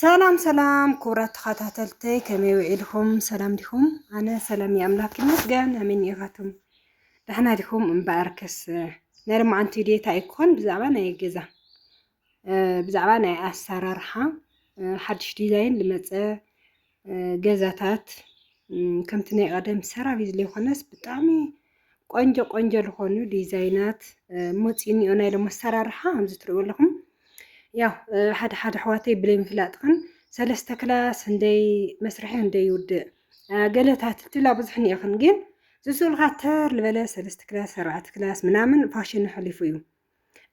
ሰላም ሰላም ክቡራት ተኸታተልተይ ከመይ ውዒልኩም ሰላም ዲኹም? ኣነ ሰላም እዩ ኣምላክ ይመስገን። ኣሜን ኢኻትኩም ደሕና ዲኹም? እምበኣርከስ ናይ ሎማዓንቲ ቪድዮ እንታይ ይኮን ብዛዕባ ናይ ገዛ ብዛዕባ ናይ ኣሰራርሓ ሓድሽ ዲዛይን ዝመፀ ገዛታት ከምቲ ናይ ቐደም ሰራቢት ዘይኮነስ ብጣዕሚ ቆንጆ ቆንጆ ዝኾኑ ዲዛይናት ሞፂ እኒኦ ናይ ሎም ኣሰራርሓ ከምዚ ትሪእዎ ኣለኹም ያው ሓደ ሓደ ኣሕዋተይ ብለይምፍላጥኽን ሰለስተ ክላስ እንደይ መስርሒ እንደይ ውድእ ገለታት ትብላ ብዙሕ እኒኦኽን ግን ዝስእሉኻ ተር ዝበለ ሰለስተ ክላስ ኣርባዕተ ክላስ ምናምን ፋሽን ሓሊፉ እዩ።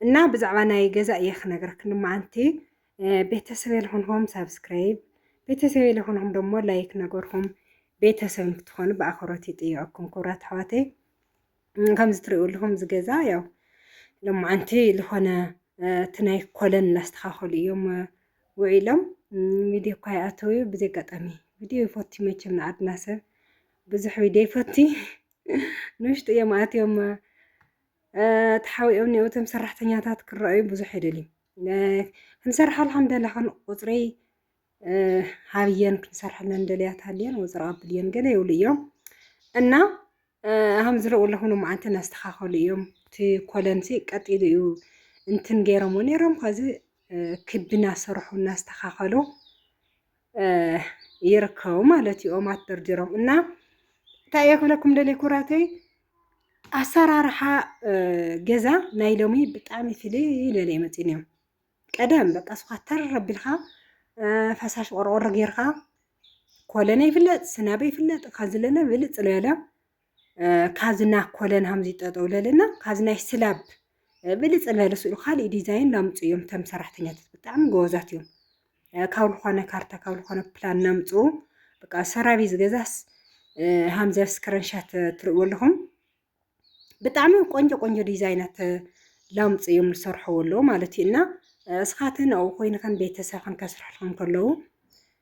እና ብዛዕባ ናይ ገዛ እየ ክነግረክ ልማዓንቲ ቤተሰብ የልኹንኹም ሳብስክራይብ ቤተሰብ የልኹንኹም ደሞ ላይክ ነገርኹም ቤተሰብ ንክትኾኑ ብኣኽብሮት ይጥየቀኩም ክብራት ኣሕዋተይ ከምዚ ትሪኡ ኣለኹም እዚ ገዛ ያው ልማዓንቲ ዝኾነ እቲ ናይ ኮለን እናስተኻኸሉ እዮም ውዒሎም ቪድዮ እኳ ይኣተው እዩ ብዘይ ኣጋጣሚ ቪድዮ ይፈቱ መቸም ንዓድና ሰብ ብዙሕ ቪድዮ ይፈቲ ንውሽጢ እዮም ኣትዮም ተሓቢኦም እኔዉ እቶም ሰራሕተኛታት ክረኣዩ ብዙሕ ኣይደልዩን ክንሰርሕ ኣልሓምደላ ከን ቁፅሪ ሃብየን ክንሰርሐለን ደልያት ሃልየን ወፅሪ ኣብል እየን ገለ ይብሉ እዮም እና ሃም ዝረኡ ኣለኹኑ መዓልቲ እናስተኻኸሉ እዮም እቲ ኮለንሲ ቀጢሉ እዩ እንትን ገይሮምዎ ነይሮም ከዚ ክቢ እናሰርሑ እናስተኻኸሉ ይርከቡ ማለት እዩ ኦማት ደርዲሮም እና እንታይ እየ ክብለኩም ደልየ ኩራተይ ኣሰራርሓ ገዛ ናይ ሎሚ ብጣዕሚ ፍልይ ኢለ መፂን እዮም ቀደም በቃ ስኻ ተር ኣቢልካ ፈሳሽ ቆርቆሮ ጌርካ ኮለነ ይፍለጥ ስናበ ይፍለጥ ካዝለነ ብልፅ ዝበለ ካዝና ኮለን ሃምዚ ጠጠው ለለና ካዝናይ ስላብ ብልፅ ዝበለ ስእሉ ካሊእ ዲዛይን ላምፁ እዮም ተም ሰራሕተኛታት ብጣዕሚ ጎበዛት እዮም ካብ ዝኾነ ካርታ ካብ ዝኾነ ፕላን ናምፁ በቃ ሰራቢ ዝገዛስ ሃምዘ ስክረንሻት ትርእዎ ኣለኹም ብጣዕሚ ቆንጆ ቆንጆ ዲዛይናት ላምፁ እዮም ዝሰርሕዎ ኣለዉ ማለት እዩ እና እስኻትን ኣብኡ ኮይንኸን ቤተሰብኽን ከስርሕልኹም ከለዉ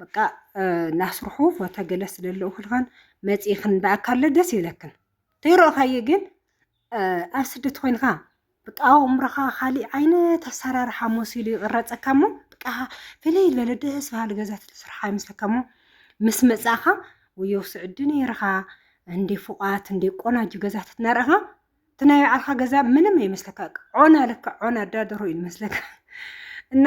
በቃ ናስርሑ ፎተ ገለ ስለለኡ ክልኻን መፂ ክንዳኣካለ ደስ ይብለክን ተይረእኻየ ግን ኣብ ስደት ኮይንካ በቃ ኣእምሮኻ ካሊእ ዓይነት ኣሰራርሓ መሲሉ ይቕረፀካ እሞ በቃ ፍልይ ዝበለ ደስ በሃሊ ገዛ ትስርሓ ይመስለካ እሞ ምስ መፃእኻ ወየው ስዕዲ ነይርኻ እንደ ፉቓት እንደ ቆናጁ ገዛ ትትነርኻ እቲ ናይ ባዕልኻ ገዛ ምንም ይመስለካ ዖና ልካ ዖና ኣዳደሮ እዩ ይመስለካ እና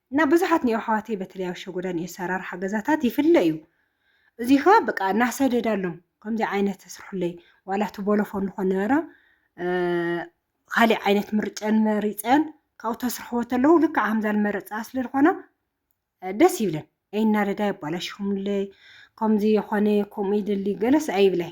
እና ብዙሓት ኒኦ ኣሕዋተይ በተለይ ኣብ ሸጎዳ ኒኦ ኣሰራርሓ ገዛታት ይፍለ እዩ እዚ ከኣ በቃ እናሰደዳሎም ከምዚ ዓይነት ስርሑለይ ዋላ እቲ ቦሎፎን ንኾን ነበረ ካሊእ ዓይነት ምርጨን መሪፀን ካብኡ ተስርሕዎ ተለዉ ልክዕ ከምዛ መረፃ ስለ ዝኾና ደስ ይብለን ኣይናደዳ የባላሽኹምለይ ከምዚ የኾነ ከምኡ ይደሊ ገለስ ኣይብላይ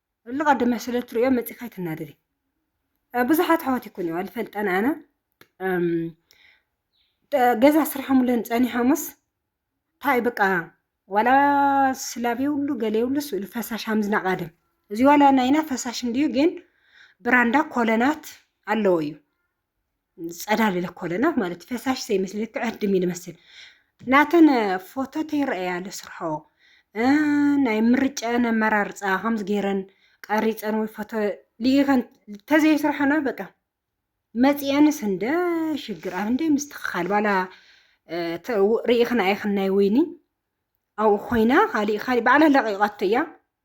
እሉ ቀድመ ስለ ትርእዮ መጺኻ ኣይትናደዲ ብዙሓት ኣሕዋት ይኩን እዩ ኣልፈልጠን ኣነ ገዛ ስርሖምለን ጸኒሖምስ እንታይ በቃ ዋላ ስላብ የብሉ ገለ የብሉ ስእሉ ፈሳሽ ሃምዝና ቃደም እዚ ዋላ ናይና ፈሳሽ እንድዩ ግን ብራንዳ ኮለናት ኣለዎ እዩ ፀዳል ኢለ ኮለና ማለት ፈሳሽ ዘይመስል ልክዕ ዕድም እዩ ዝመስል ናተን ፎቶት ይረአያ ኣሎ ስርሖ ናይ ምርጫን ኣመራርፃ ከምዚ ገይረን ቀሪፀን ወይ ፎቶ ልኢኸን ተዘይስርሐና በቃ መፂአንስ እንደ ሽግር ኣብ እንደ ምስትኽኻል ባላ ርኢኽን ኣይኽን ናይ ወይኒ ኣብኡ ኮይና ካሊእ ካሊእ ባዕላ ለቂቓቶ እያ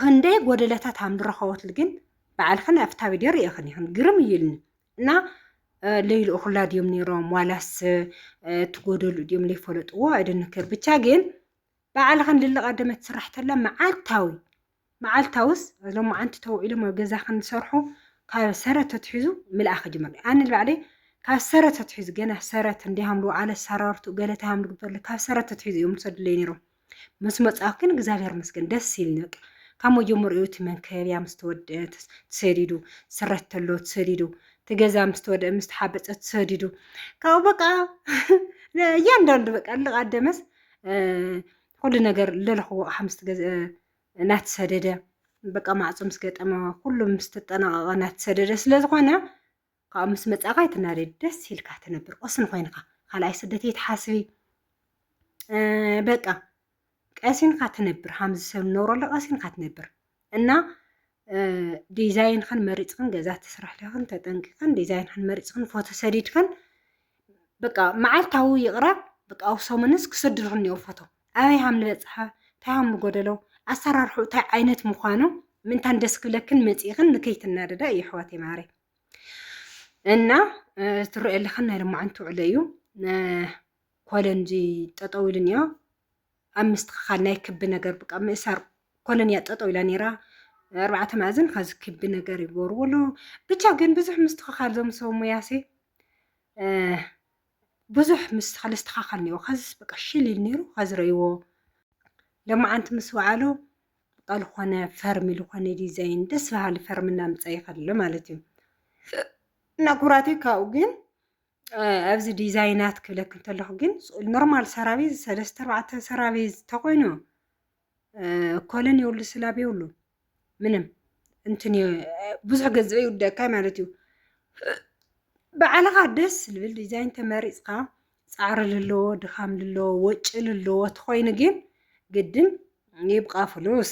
ክንደይ ጎደለታት ሃም ዝረኸበትሉ ግን ባዕልኽን ኣብታ ቪድዮ ርኢኽን ኢኽን ግርም እዩ ኢልኒ እና ለይልእኹላ ድዮም ነይሮም ዋላስ ትጎደሉ ድዮም ለይፈለጥዎ ኣይደንክር ብቻ ግን ባዕልኽን ልልቐደመት ስራሕተላ መዓልታዊ መዓልታውስ ሎም ዓንቲ ተውዒሎም ኣብ ገዛኽን ዝሰርሑ ካብ ሰረት ተትሒዙ ምልኣኽ ጅምር ኣነ ባዕለይ ካብ ሰረት ተትሒዙ ገና ሰረት እንዲሃምሉ ኣለ ሰራርቱ ገለታ ሃምሉ ግበርለ ካብ ሰረት ተትሒዙ እዮም ዝሰድለይ ነይሮም ምስ መጻኹ ግን እግዚኣብሔር ይመስገን ደስ ኢልኒ በቃ ካብ መጀመሪኡ እቲ መንከብያ ምስ ተወድአ ተሰዲዱ ስረት ተሎ ተሰዲዱ እቲ ገዛ ምስ ተወድአ ምስ ተሓበፀ ተሰዲዱ ካብኡ በቃ እያንዳንዱ በቃ ልቓደመስ ኩሉ ነገር ለለኽዎ ኣቕሓ ምስ ተገዝአ እናተሰደደ በቃ ማዕፆ ምስ ገጠመ ኩሉ ምስ ተጠናቐቐ እናተሰደደ ስለዝኾነ ካብኡ ምስ መጻእካ ኣይትናደድ ደስ ኢልካ ትነብር ቁስን ኮይንካ ካልኣይ ስደት የትሓስቢ በቃ ቀሲንካ ትነብር ሃምዚ ሰብ ንነብረሉ ቀሲንካ ትነብር እና ዲዛይንክን መሪፅክን ገዛ ትስራሕልኽን ተጠንቂኽን ዲዛይንክን መሪፅክን ፎቶ ሰዲድክን በቃ መዓልታዊ ይቕረብ በቃ ኣብ ሰሙንስ ክስድርሑ እኒኦ ፎቶ ኣበይ ሃም ንበፅሐ እንታይ ሃም ንጎደሎ ኣሰራርሑ እንታይ ዓይነት ምዃኑ ምእንታን ደስ ክብለክን መፂእኽን ንከይትናደዳ እዩ ኣሕዋት የማረ እና ትረኦ ኣለኽን ናይ ልማዓንቲ ውዕሎ እዩ ኮለን እዚ ጠጠው ኢሉ እኒኦ ኣብ ምስትኽኻል ናይ ክቢ ነገር በቃ ምእሳር ኮለን እያ ጠጠው ኢላ ነይራ ኣርባዕተ ማእዝን ካብዚ ክቢ ነገር ይገብርዎ ኣለዉ ብቻ ግን ብዙሕ ምስትኽኻል ዞም ሰብ ሙያሲ ብዙሕ ምስ ኸለ ዝተኻኸል ነይሩ ኸዚስ በቃ ሽል ኢሉ ነይሩ ኸዚ ረእይዎ ለማዓንቲ ምስ ወዓሎ በቃ ዝኾነ ፈርሚ ዝኾነ ዲዛይን ደስ በሃሊ ፈርሚ እናምፀ ይኸለ ማለት እዩ እና ኩራተይ ካብኡ ግን ኣብዚ ዲዛይናት ክብለክ እንተለኹ ግን ኖርማል ሰራቤዝ ሰለስተ ኣርባዕተ ሰራቤዝ ተኾይኑ ኮለን የብሉ ስላብ የብሉ ምንም እንትን ብዙሕ ገንዘብ ይውደካ ማለት እዩ ብዓልኻ ደስ ዝብል ዲዛይን ተመሪፅካ ፃዕሪ ልለዎ ድኻም ልለዎ ወጪ ልለዎ ተኾይኑ ግን ግድን ይብቃ ፍሉስ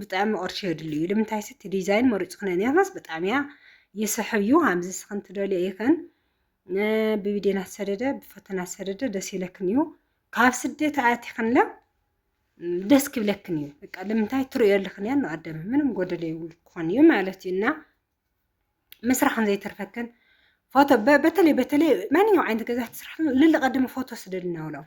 ብጣዕሚ ቅርሺ የድልዩ ልምንታይ ስቲ ዲዛይን መሪፅክነ ነርናስ ብጣዕሚ እያ ይስሕብ እዩ ሃምዚ ስኽን ትደልዮ ይኽን ብቢዴን ኣሰደደ ብፈተና ኣሰደደ ደስ ይለክን እዩ ካብ ስደት ኣያቲኽንለ ደስ ክብለክን እዩ በቃ ልምንታይ ትርእዮ ኣለኽን እያ ኣደመ ምንም ጎደለ ይብሉ ክኾን እዩ ማለት እዩ እና ምስራሕን ዘይተርፈክን ፎቶ በተለይ በተለይ ማንኛውም ዓይነት ገዛ ትስራሕ ልልቐድሚ ፎቶ ስደድ እናውሎም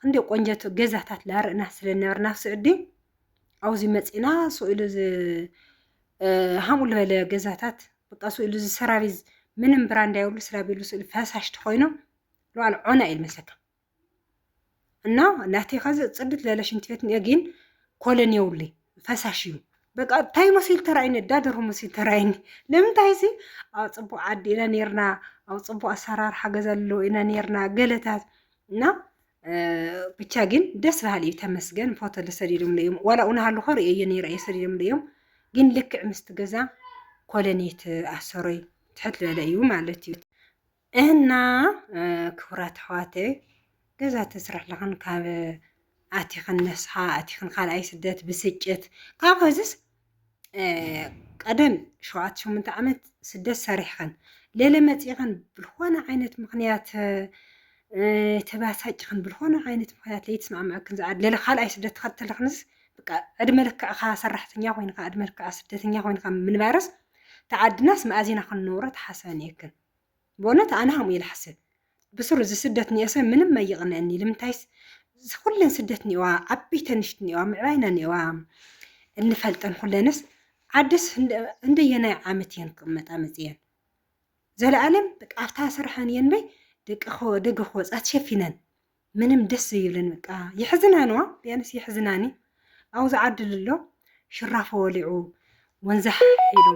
ክንደይ ቆንጀት ገዛታት ላርእና ስለነበርና ስዑዲ ኣብዚ መፂና ስእሉ ሃምኡ ዝበለ ገዛታት በቃ ስእሉ ዝሰራቢዝ ምንም ብራንዳ የብሉ ስራቢሉ ስእሉ ፈሳሽ ተኮይኑ ለዋል ዖና እዩ መሰካ እና ናተይ ከዚ ፅድት ለለ ሽንት ቤት እኒኦ ግን ኮለን የብሉ ፈሳሽ እዩ በቃ እንታይ መሲሉ ተራእይኒ እዳደሩ መሲሉ ተራእይኒ ንምንታይ ሲ ኣብ ፅቡቅ ዓዲ ኢና ነርና ኣብ ፅቡቅ ኣሰራርሓ ገዛ ኣለዎ ኢና ነርና ገለታት እና ብቻ ግን ደስ በሃሊ እዩ ተመስገን ፎቶ ዝሰዲዶምሉ እዮም ዋላ እውን ሃልኾ ርእየዮ ነይረ እየ ሰዲዶምሉ እዮም ግን ልክዕ ምስቲ ገዛ ኮለኔት ኣሰሮይ ትሕት ዝበለ እዩ ማለት እዩ እና ክቡራት ኣሕዋተ ገዛ ተስራሕ ለኽን ካብ ኣቲኽን ነስሓ ኣቲኽን ካልኣይ ስደት ብስጭት ካብ ኸዚስ ቀደም ሸውዓተ ሸሞንተ ዓመት ስደት ሰሪሕኸን ሌለ መፂእኸን ብልኾነ ዓይነት ምኽንያት ተባሳጭኽን ብልኾነ ዓይነት ምኽንያት ለይትስማዕመዐክን ዝኣድ ሌለ ካልኣይ ስደት ተኸተልኽንስ በቃ ዕድመ ልክዕኻ ሰራሕተኛ ኮይንካ ዕድመ ልክዕካ ስደተኛ ኮይንካ ምንባርስ ተዓድናስ መኣዚና ክንነብሮ ተሓሰበን እየክን ብእውነት ኣነ ከምኡ ኢለ እሓስብ ብስሩ እዚ ስደት እኒኦሰ ምንም ኣይቕንእኒ ልምንታይስ እዚ ኩለን ስደት እኒኦዋ ዓበይተን ንሽት እኒኦዋ ምዕባይና እኒኦዋ እንፈልጠን ኩለንስ ዓድስ እንደየናይ ዓመት እየን ክቕመጣ መፅየን ዘለኣለም ኣብታ ስርሐን እየን በይ ደቂ ደገ ክወፃ ተሸፊነን ምንም ደስ ዘይብለን በቃ የሕዝና ነዋ ቢያንስ የሕዝናኒ ኣብዚ ዓዲ ልሎ ሽራፎ ወሊዑ ወንዛ ሒሉ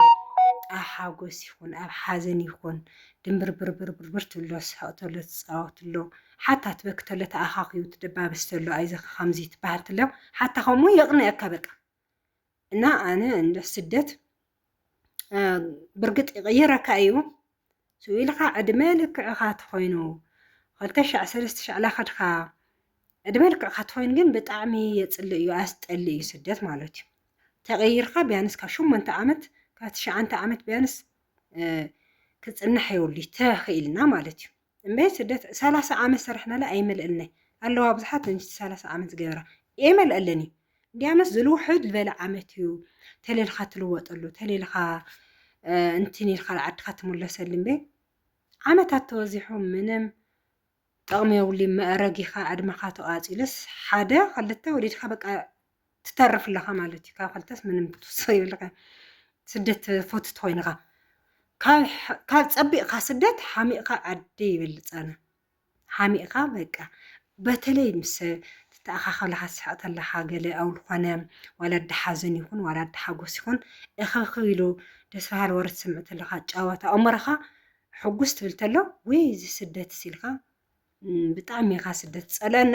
ኣብ ሓጎስ ይኹን ኣብ ሓዘን ይኹን ድምብርብርብርብር ትብሎ ስሕቕ ተሎ ትፃወት ኣሎ ሓታ ትበክ ተሎ ተኣኻኺቡ ትደባበስ ተሎ ኣይዘኸ ከምዚ ትበሃል ትሎ ሓታ ከምኡ የቕንየካ በቃ እና ኣነ እንደ ስደት ብርግጥ ይቕይረካ እዩ ስኢልኻ ዕድመ ልክዕኻ ትኾይኑ ክልተ ሻዕ ሰለስተ ሻዕ ላኸድካ ዕድመ ልክዕካ ትኾይኑ ግን ብጣዕሚ የፅልእ እዩ ኣስጠሊ እዩ ስደት ማለት እዩ ተቐይርካ ቢያንስ ካብ ሸሞንተ ዓመት ካብ ትሽዓንተ ዓመት ቢያንስ ክፅናሕ የብሉ ተኽኢልና ማለት እዩ እምበይ ስደት ሰላሳ ዓመት ሰራሕናላ ኣይመልእልናይ ኣለዋ ብዙሓት ንሽቲ ሰላሳ ዓመት ዝገበራ የመልእልን እዩ እንዲያመስ ዝልውሕድ ዝበለ ዓመት እዩ ተሌልካ ትልወጠሉ ተሌልካ እንትን ኢልካ ንዓድካ ትምለሰሉ እምበይ ዓመታት ተወዚሑ ምንም ጥቕሚ የብሉይ መእረጊኻ ዕድመኻ ተቓፂሉስ ሓደ ክልተ ወሊድካ በቃ ትተርፍ ኣለኻ ማለት እዩ ካብ ክልተስ ምንም ክትውስኽ የብልካን ስደት ተፈትት ኮይንኻ ካብ ፀቢቕካ ስደት ሓሚቕካ ዓዲ ይበልፅ ኣነ ሓሚቕካ በቃ በተለይ ምስ ትተኣኻኸለኻ ትስሕቕ ተለኻ ገለ ኣብ ዝኾነ ዋላ ዳሓዘን ይኹን ዋላ ዳሓጎስ ይኹን እኽብክብ ኢሉ ደስ በሃሊ ወረ ትሰምዕ ተለኻ ጨወታ ኣእምሮኻ ሕጉስ ትብል ተሎ ወይ እዚ ስደት ሲልካ ብጣዕሚ ኢኻ ስደት ፀለና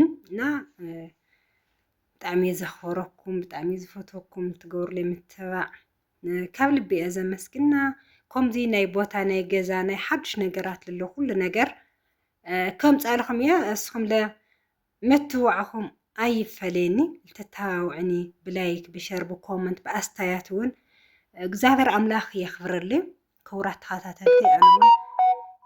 እና ብጣዕሚ እየ ዘኽብረኩም፣ ብጣዕሚ እየ ዝፈትወኩም፣ ትገብሩለይ ምትብባዕ ካብ ልቢ እየ ዘመስግና። ከምዚ ናይ ቦታ ናይ ገዛ ናይ ሓዱሽ ነገራት ልሎ ኩሉ ነገር ከምፃልኹም እየ እስኹም ለ ምትብባዕኹም ኣይፈለየኒ ልተተባብዑኒ ብላይክ ብሸር ብኮመንት ብኣስታያት እውን እግዚኣብሔር ኣምላኽ የኽብረልይ። ክቡራት ተኸታተልቲ ኣነውን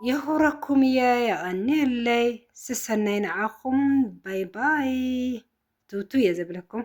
የኽብረኩም እየ የቐንየለይ ስሰናይ ንዓኹም ባይ ባይ ትውቱ እየ ዘብለኩም